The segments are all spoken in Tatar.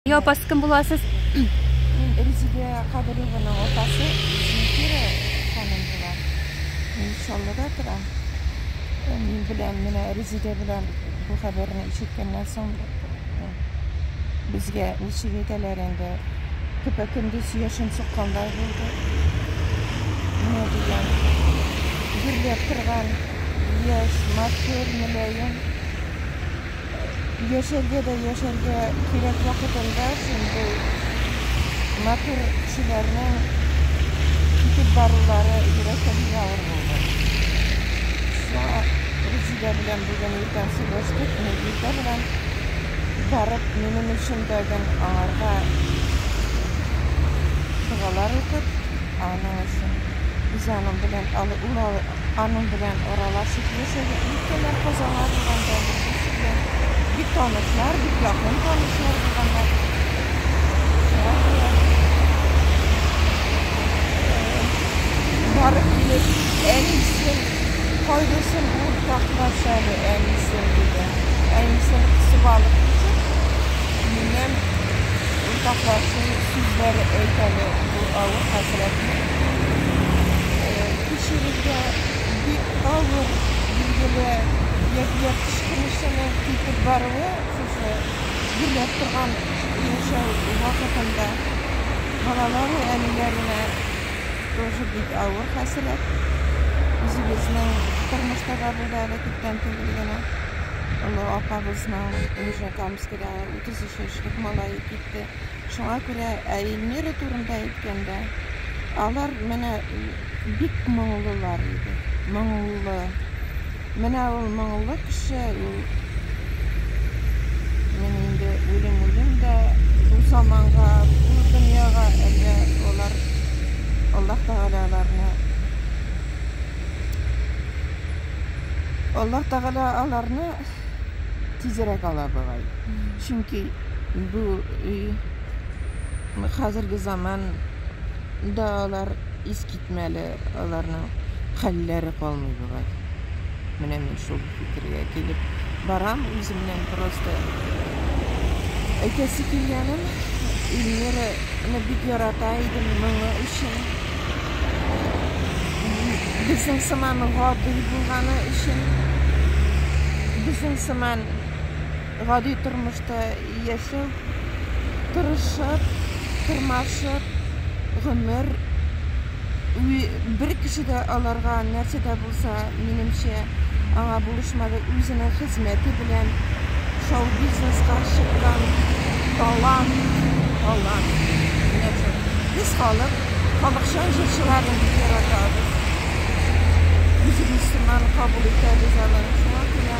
Ия апа, сез кем буласыз? Мин Резидә Кадырованың апасы Зинфира ханым була. Мин Чаллыда торам. Э, Мин белән менә Резидә белән бу хәбәрне ишеткәннән соң э, безгә ничек әйтәләр инде көпә-көндез яшен суккандай булды. Менә дигән гөрләп торган яшь, матур, мөлаем Яшәргә дә яшәргә кирәк вакытында син бу матур кешеләрнең китеп барулары йөрәккә бик авыр булды. Сара, Резидә белән бүген иртән сөйләштек, мин иртә белән барып минем өчен дә гел аңарга догалар укып, аның өчен җаным белән ул Аның белән аралашып яшәдек. Өлкәннәр казалар булганда, беренчесе белән бик танышлар, бик якын танышлар булганнар. Шуңа күрә барып килеп, әнисен кайгысын уртаклаш әле, әнисен, диде. Әнисен кысып алып китеп, минем уртаклашу сүзләре әйт әле бу авыр хәсрәтне. кешегезгә бик авыр, билгеле, ягъни кычкыручының китеп баруы сезне гөрләп торган яшәү вакытында балаларның әниләренә тоже бик авыр хәсрәт. Үзебезнең тормышта да булды әле күптән түгел генә. Олы апабызның Нижнекамскида 33 яшьлек малае китте. Шуңа күрә ә Эльмира турында әйткәндә, алар менә бик моңлылар иде. Моңлы. Менә ул моңлы кеше, ул менә инде үлем үлем дә бу заманга, бу дөньяга әллә алар Аллаһ Тәгалә аларны Аллаһ Тәгалә аларны тизрәк ала бугай. Чөнки бу өй хәзерге заман да алар искитмәле, аларның хәлләре калмый бугай. Менә мин шул фикергә килеп барам үземнән просто. Әйтәсе килгәнем, Ильмираны бик ярата идем моңы өчен. Безнең сыман гади булганы өчен. Безнең сыман. гади тормышта яшәү, тырышып, тырмашып гомер ү бер кеше дә аларга нәрсә дә булса, минемчә, аңа булышмады, үзенең хезмәте белән шоу-бизнеска чыккан талант, талант, менә шул. Без халык, халыкчан җырчыларны бик яратабыз, үзебез сыман кабул итәбез аларны, шуңа күрә.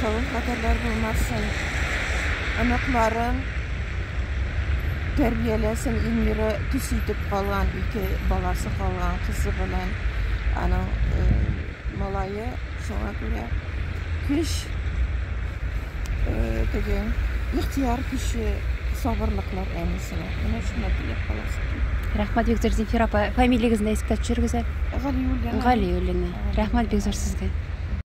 Савым кадәрләр булмасын. Оныкларын тәрбияләсен. Ильмира төс итеп калган, ике баласы калган, кызы белән аның э, малае. Шуңа күрә көч э, теге ихтияр көче сабырлыклар әнисенә. Менә шуны теләп каласы килде. Рәхмәт бик зур Зинфир апа. Фамилиягезне искә төшерегез әле. Галиуллина. Галиуллина. Рәхмәт бик зур сезгә.